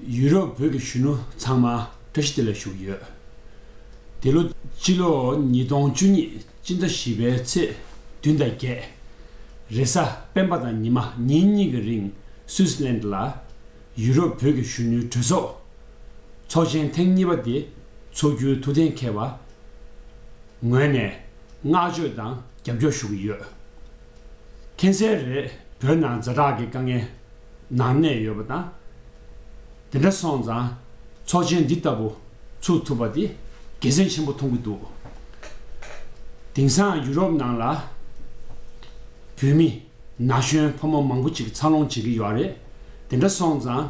ཡུ་རོབ་བོད་ཀྱི་གཞོན་ནུ་ཚང་མ་བཀྲ་ཤིས་བདེ་ལེགས་ཞུ་གི་ཡོད། འདི་ལོ་སྤྱི་ལོ་ཉིས་སྟོང་བཅུ་གཉིས་སྤྱི་ཟླ་བཞི་པའི་ཚེས་བདུན་དང་བརྒྱད་རེས་གཟའ་སྤེན་པ་དང་ཉི་མ་ཉིན་གཉིས་ཀྱི་རིང་སུས་ལེན་ལ་ཡུ་རོབ་བོད་ཀྱི་གཞོན་ནུའི་གྲོས་ཚོགས་ཚོགས་ཆེན་ཐེངས་གཉིས་པ་དེ་འཚོགས་རྒྱུའི་ཐུགས་གཏན་འཁེལ་བ་ངོས་ནས་བསྔགས་བརྗོད་དང། རྒྱབ་སྐྱོར་ཞུ་གི་ཡོད། མཁྱེན་གསལ་རེད་བོད་ནང་རྫ་དྲག་གི་དཀའ་ངལ་ནང་གནས་ཡོད་པ་དང། དེ་འདྲ་སོང་ཙང་ཚོགས་ཆེན་འདི་ལྟ་བུ་ཚུགས་ཐུབ་པ་དེ་དགེ་མཚན་ཆེན་པོ་མཐོང་གི་འདུག་དེང་སང་ཡུ་རོབ་ནང་ལ་བོད་མི་ན་གཞོན་ཕོ་མོ་མང་པོ་ཅིག་འཚར་ལོངས་བྱེད་ཀྱི་ཡོད་རེད་དེ་འདྲ་སོང་ཙང་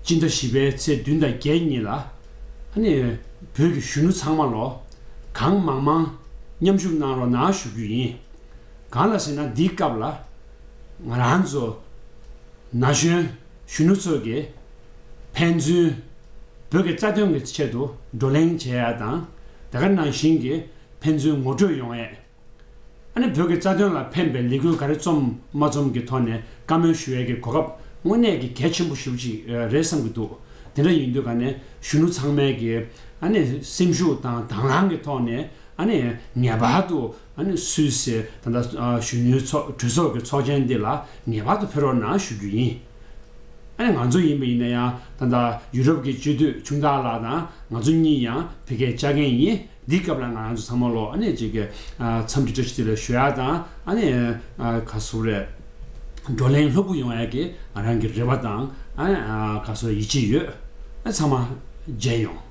སྤྱི་ཟླ་བཞི་པའི་ཚེས་བདུན་དང་བརྒྱད་གཉིས་ལ། ནས་བོད་ཀྱི་གཞོན་ནུ་ཚང་མ་ལོ་གང་མང་མང་མཉམ་ཞུགས་གནང་རོགས་གནང་ཞུ་རྒྱུ་ཡིན། གང་ལ་ཟེར་ན་འདིའི་སྐབས་ལ་ང་རང་ཚོ་ན་གཞོན་གཞོན་ནུ་ཚོ་གིས་ཕན་ཚུན་བོད་ཀྱི་རྩ་དོན་གྱི་ཆེད་དུ་བགྲོ་གླེང་བྱེད་ཡ་དང་དེ་ག་ནང་བཞིན་གྱི་ཕན་ཚུན་ངོ་སྤྲོད་ཡོང་ཡས། ཨ་ནེ་བོད་ཀྱི་རྩ་དོན་ལ་ཕན་པའི་ལས་འགུལ་ག་རེ་རྩོམ་མ་རྩོམ་གྱི་ཐོག་ནས་བཀའ་མོལ་ཞུ་ཡས་ཀྱི་གོ་སྐབས་དངོས་གནས་ཀྱི་གལ་ཆེན་པོ་ཞིག་རེད་བསམ་གྱི་འདུག་དེ་འདྲ་ཡིན་དུས་ག་ནས་གཞོན་ནུ་ཚང་མས་ཀྱི་ཨ་ནེ་སེམས་ཤུགས་དང་དང་བླང་གྱི་ཐོག་ནས་ཨ་ནེ་ངེས་པར་དུ་ཨ་ནེ་སུད་སི་ད་ལྟ་གཞོན་ནུའི་གྲོས་ཚོགས་ཀྱི་ཚོགས་ཆེན་འདི་ལ་ངེས་པར་དུ་ཕེ་རོགས་གནང་ཞུ་རྒྱུ་ཡིན། ཨ་ནི་ང་ཚོ་ཡིན་པ་ཡིན་ན་ཡང་ད་ལྟ་ཡུ་རོབ་ཀྱི་སྤྱི་འཐུས་ཁྱུང་རྟ་ལགས་དང་ང་ཚོ་གཉིས་ཡང་བོད་སྐད་བཅའ་མཁན་ཡིན་འདི་སྐབས་ལ་ང་རང་ཚོ་ཚང་མ་ལོ་ཨ་ནི་གཅིག་གི་མཚམས་ཀྱི་བཀྲ་ཤིས་བདེ་ལེགས་ཞུ་ཡག་དང་ཨ་ནི་ག་སུ་རེད་བགྲོ་གླེང་ལྷུག་པོ་ཡོང་ཡག་གི་ང་རང་གི་རེ་བ་དང་ག་སུ་ཡིད་ཆེས་ཡོད་ཨ་ཚང་མ་མཇལ་ཡོང།